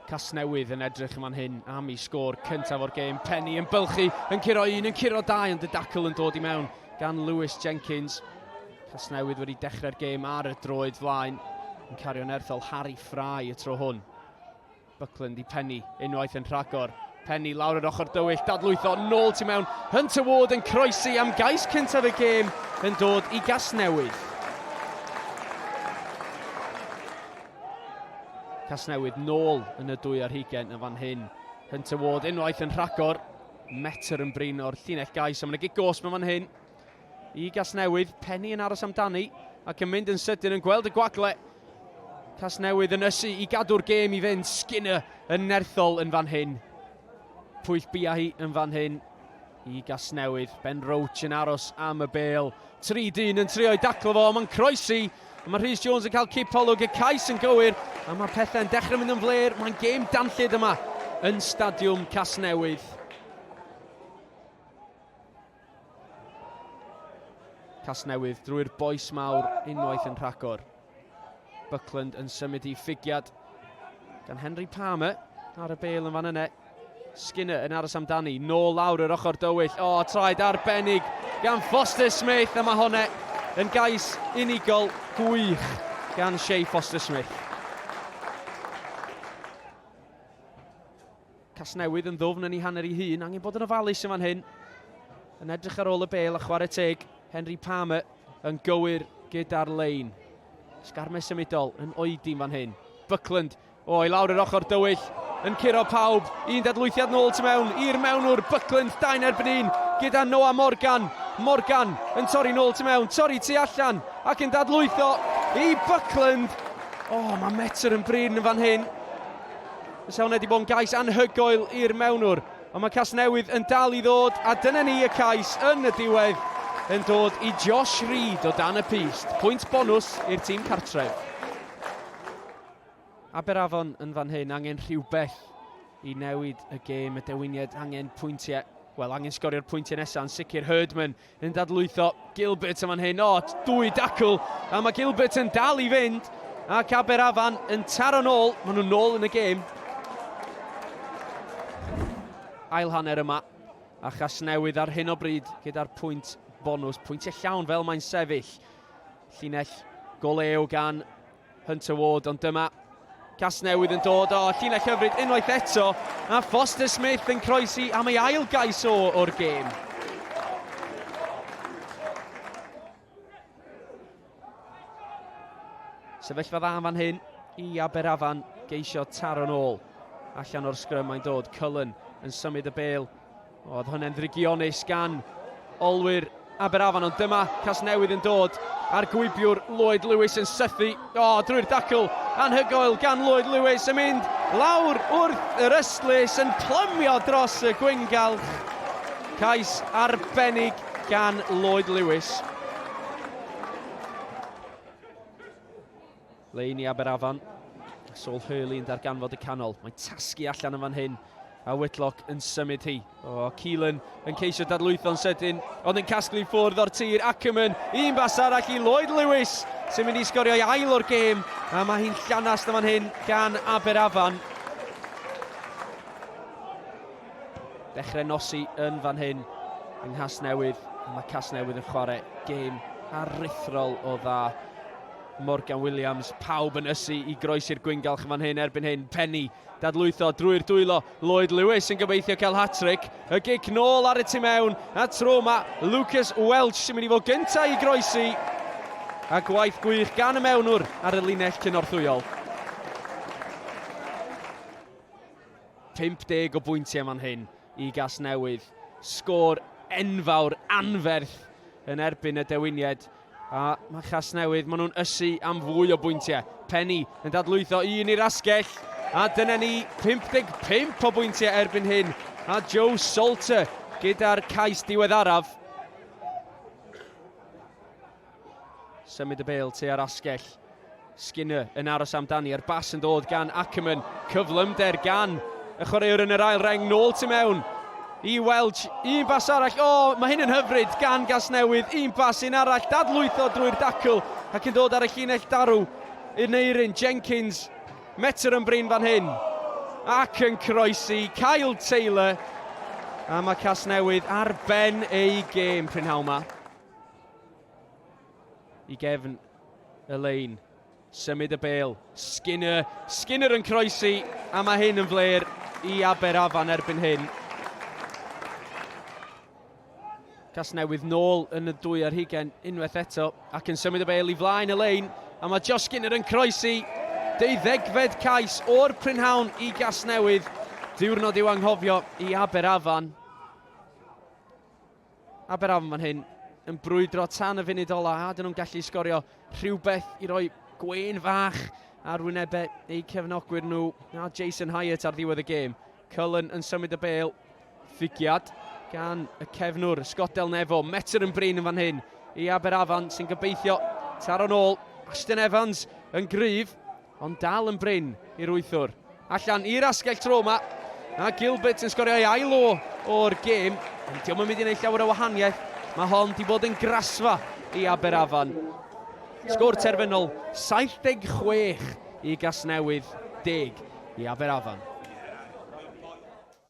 Casnewydd yn edrych yn fan hyn am i sgôr cyntaf o'r gêm. Penny yn bylchu, yn curo un, yn curo dau, ond y dacl yn dod i mewn gan Lewis Jenkins. Casnewydd wedi dechrau'r gêm ar y droed flaen, yn cario'n erthol Harry Fry y tro hwn. Buckland i Penny, unwaith yn rhagor. Penny lawr yr ochr dywyll, dadlwytho nôl tu mewn. Hunter Ward yn croesi am gais cyntaf y gêm yn dod i Gasnewydd. Casnewid nôl yn y dwy ar hugen yn fan hyn. Hunter Ward unwaith yn rhagor. Metr yn brin o'r llinell gais. A mae'n gig gos mewn fan hyn. I Gasnewydd, Penny yn aros amdani ac yn mynd yn sydyn yn gweld y gwagle. Casnewydd yn ysu i gadw'r gêm i fynd. Skinner yn nerthol yn fan hyn. Pwyll bia hi yn fan hyn. i Gasnewydd. Ben Roach yn aros am y bel. Tri dyn yn trio'i daclo fo, mae'n croesi. Mae Rhys Jones yn cael cip olwg y cais yn gywir, a mae pethau'n dechrau mynd yn fler. Mae'n gêm danllyd yma yn Stadiwm Casnewydd. Casnewydd drwy'r boes mawr unwaith yn rhagor. Buckland yn symud i ffigiad gan Henry Palmer ar y bel yn fan yna. Skinner yn aros amdani, nôl lawr yr ochr dywyll. O, traed arbennig gan Foster Smith, a mae hwnna yn gais unigol gwych gan Shea Foster Smith. Casnewydd yn ddwfn yn ei hanner ei hun, angen bod yn ofalus yn fan hyn. Yn edrych ar ôl y bel a chwarae teg, Henry Palmer yn gywir gyda'r lein. Sgarme symudol yn oedi yn fan hyn. Buckland o i lawr yr ochr dywyll, yn curo pawb, un dadlwythiad nôl tu mewn i'r mewnwr, Buckland dain erbyn un gyda Noah Morgan. Morgan yn torri nôl tu mewn, torri tu allan ac yn dadlwytho i Buckland. O, oh, mae metr yn brin yn fan hyn. Y safon wedi bod yn gais anhygoel i'r mewnwr, ond mae Casnewydd yn dal i ddod, a dyna ni y cais yn y diwedd yn dod i Josh Reed o dan y pist. Pwynt bonws i'r tîm cartref. Aberafon yn fan hyn, angen rhywbeth i newid y gêm, y dewiniad, angen pwyntiau, wel angen sgorio'r pwyntiau nesaf, yn sicr Herdman Yn dadlwytho Gilbert yn fan hyn. O, dwy dacl. A mae Gilbert yn dal i fynd. Ac Aberafan yn taro'n ôl. Maen nhw'n ôl yn y gêm. Ail hanner yma. A Chasnewydd ar hyn o bryd gyda'r pwynt bonus. Pwyntiau llawn fel mae'n sefyll. Llinell goleo gan Hunter Ward, ond dyma Casnewydd yn dod o llinell hyfryd unwaith eto, a Foster Smith yn croesi am ei ail gais o o'r gêm. Sefyllfa dda fan hyn i Aberafan geisio taro'n ôl. Allan o'r sgrym mae'n dod, Cullen yn symud y bel Oedd hwnna'n ddrygionus gan olwyr Aberafan, ond dyma Casnewydd yn dod a'r gwybiwr Lloyd Lewis yn sythu o drwy'r dacl anhygoel gan Lloyd Lewis yn mynd lawr wrth yr ystlys yn plymio dros y gwyngalch. Cais arbennig gan Lloyd Lewis. Lein i Aberafan. Saul Hurley yn darganfod y canol. Mae tasgu allan yn fan hyn. A Whitlock yn symud hi. O, Keelan yn ceisio dadlwytho'n sydyn, ond yn casglu ffwrdd o'r tir. Ackerman, un bas arall i Lloyd Lewis, sy'n mynd i sgorio i ail o'r gêm. A mae hi'n llanast yn fan hyn gan Aberafan. Dechrau nosi yn fan hyn yng Nghasnewydd. Mae Casnewydd yn chwarae gêm aruthrol o dda. Morgan Williams, pawb yn ysu i groesi'r gwyngalch yn fan hyn erbyn hyn. Penny, dadlwytho drwy'r dwylo. Lloyd Lewis yn gobeithio cael hat-trick. Y gic nôl ar y tu mewn, a tro yma Lucas Welch sy'n mynd i fod gyntaf i groesi. A gwaith gwych gan y mewnwr ar y linell cynorthwyol. 50 o bwyntiau man hyn i Gasnewydd. Sgôr enfawr, anferth yn erbyn y dewiniaid. A mae Casnewydd, maen nhw'n ysu am fwy o bwyntiau. Penny yn dadlwytho un i'r asgell. A dyna ni 55 o bwyntiau erbyn hyn. A Joe Salter gyda'r cais diweddaraf. Symud y bel tua'r asgell. Skinner yn aros amdani a'r bas yn dod gan Ackermann. Cyflymder gan y chwaraewr yn yr ail reng, nôl tu mewn i Welch. Un bas arall, o, mae hyn yn hyfryd gan Gasnewydd. Un bas, un arall, dadlwytho drwy'r dacl ac yn dod ar y llinell darw yn eirin Jenkins. Metr yn brin fan hyn ac yn croesi Kyle Taylor. A mae Casnewydd ar ben eu gêm prynhawn 'ma. i gefn y lein. Symud y bel. Skinner. Skinner yn croesi a mae hyn yn fler i Aber Afan erbyn hyn. Casnewydd nôl yn y dwy ar hugen unwaith eto ac yn symud y bel i flaen y lein a mae Josh Skinner yn croesi deuddegfed cais o'r prynhawn i Gasnewydd. Diwrnod i'w anghofio i Aber Afan. Aberafan fan hyn yn brwydro tan y funud ola a dyn nhw'n gallu sgorio rhywbeth i roi gwein fach ar wynebau eu cefnogwyr nhw a Jason Hyatt ar ddiwedd y gêm. Cullen yn symud y bel, ffigiad gan y cefnwr Scott Del Nevo, metr yn brin yn fan hyn i Aberafan sy'n gobeithio taro'n ôl. Ashton Evans yn gryf, Ond dal yn brin i'r wythwr. Allan i'r asgell tro yma. A Gilbert yn sgorio ei ail o o'r gêm. Ond diolch yn mynd i wneud llawer o wahaniaeth. Mae hon di bod yn grasfa i Aberafan. Sgôr terfynol 76 i Gasnewydd deg i Aberafan.